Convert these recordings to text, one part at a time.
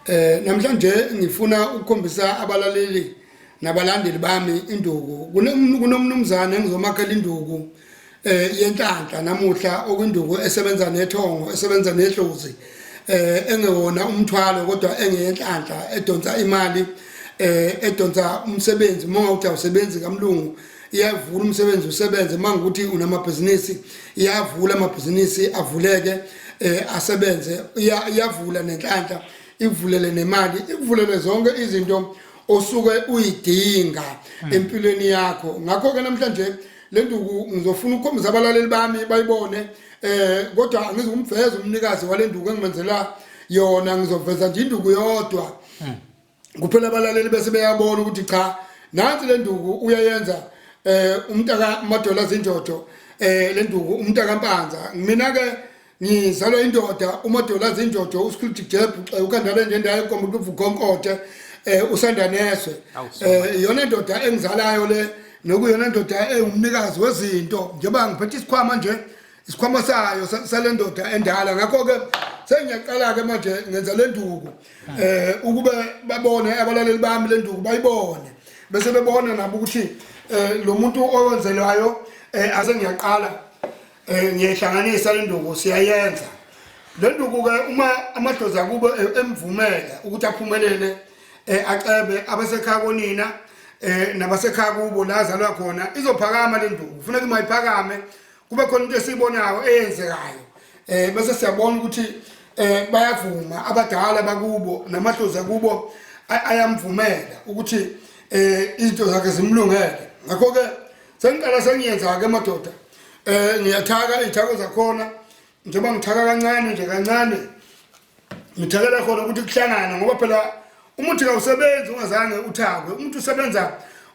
Eh namhlanje ngifuna ukukhombisa abalaleli nabalandeli bami induku kunomnumzane engizomakhela induku eh yenhlanhla namuhla okwinduku esebenza nethongo esebenza nedlozi eh engewona umthwalo kodwa engeyenhlanhla edonsa imali eh edonsa umsebenzi uma uthi awusebenzi kamlungu iyavula umsebenzi usebenze uma ngikuthi unamabhizinisi iyavula amabhizinisi avuleke um asebenze iyavula nenhlanhla ikuvulele nemali ikuvulele zonke izinto osuke uyidinga hmm. empilweni yakho ngakho-ke namhlanje le nduku ngizofuna ukukhombisa abalaleli bami bayibone eh kodwa angizukumveza umnikazi wale nduku engimenzela yona ngizoveza nje induku yodwa hmm. kuphela abalaleli bese beyabona ukuthi cha nansi le nduku uyayenza eh umntaka madola zinjojo eh le nduku umntaka mpanza mina ke ngizalwa indoda umadola zinjojo uskilti jebhu xa ukandale nje ndaye kombe kuvu konkote eh usanda neswe eh yona indoda engizalayo le nokuyona indoda engumnikazi wezinto njengoba ngiphethe isikhwama nje isikhwama sayo salendoda endala ngakho ke sengiyaqala ke manje ngenza lenduku eh ukube babone abalaleli bami lenduku bayibone bese bebona nabo ukuthi eh lo muntu owenzelwayo eh ase ngiyaqala eh ngiyehlanganisa lenduku siyayenza lenduku ke uma amadoza kubo eh, emvumela ukuthi aphumelele eh acebe abasekhaya konina eh nabasekhaya kubo la azalwa khona izophakama lenduku kufuneka imayiphakame kube khona into esiyibonayo eyenzekayo eh bese siyabona ukuthi eh bayavuma abadala bakubo namadlozi akubo ayamvumela ukuthi eh izinto zakhe zimlungele ngakho ke sengiqala sengiyenza ke madoda eh ngiyathaka izithako zakhona njengoba ngithaka kancane nje kancane ngithekela khona ukuthi kuhlangane ngoba phela umuthi kawusebenzi ungazange uthakwe umuntu usebenza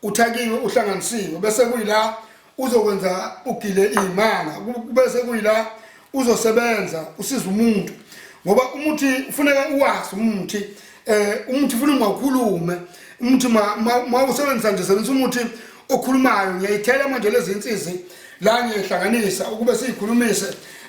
uthakiwe uhlanganisiwe bese kuyila uzokwenza ugile iy'manga bese kuyila uzosebenza usiza umuntu ngoba umuthi ufuneka uwazi umuthi um umuthi funa ungawukhulume umuthi ma usebenzisa nje sebenzisa umuthi okhulumayo ngiyayithela manje lezi nsizi la ngiyihlanganisa ukube siyikhulumise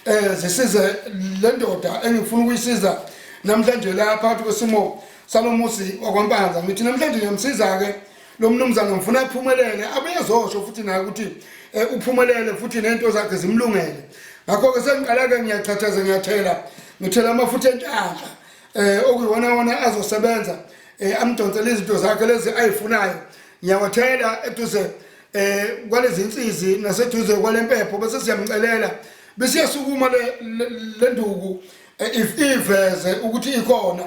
um zisize le ndoda engifuna ukuyisiza namhlanje la phakathi kwesimo salo musi wakwampanza ngithi namhlanje ngiyamsiza-ke lo mnumzane ngifuna aphumelele abeyezosho futhi naye ukuthi um uphumelele futhi nento zakhe zimlungele ngakho-ke sengiqala-ke ngiyachathaza ngiyathela ngithela amafutha enhlanhla eh okuyona wona azosebenza eh amdonsele izinto zakhe lezi ayifunayo ngiyawathela eduze eh kwalezi insizi naseduze kwalempepho bese siyamcelela bese yasukuma le nduku eh, if iveze ukuthi ikhona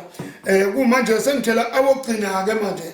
eh kumanje sengithela awogcina ke manje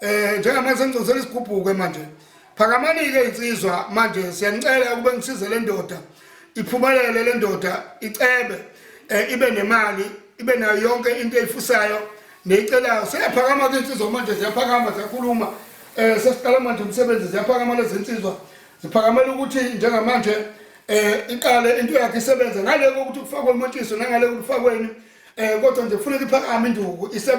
Eh njengamanje sengicosela isigubhuke manje. Phakamani ke insizwa manje siyanicela ukube ngisize le ndoda iphumelele le ndoda icebe eh, ibe nemali ibe nayo yonke into eyifusayo neyicelayo seyaphakama ke insizwa manje ziyaphakama ziyakhuluma eh sesiqala manje umsebenzi ziyaphakama lezi nsizwa ziphakamela ukuthi njengamanje eh iqale into yakhe isebenze ngale kokuthi kufakwe umontiso nangale kufakweni eh kodwa nje kufuneka iphakame induku isebenze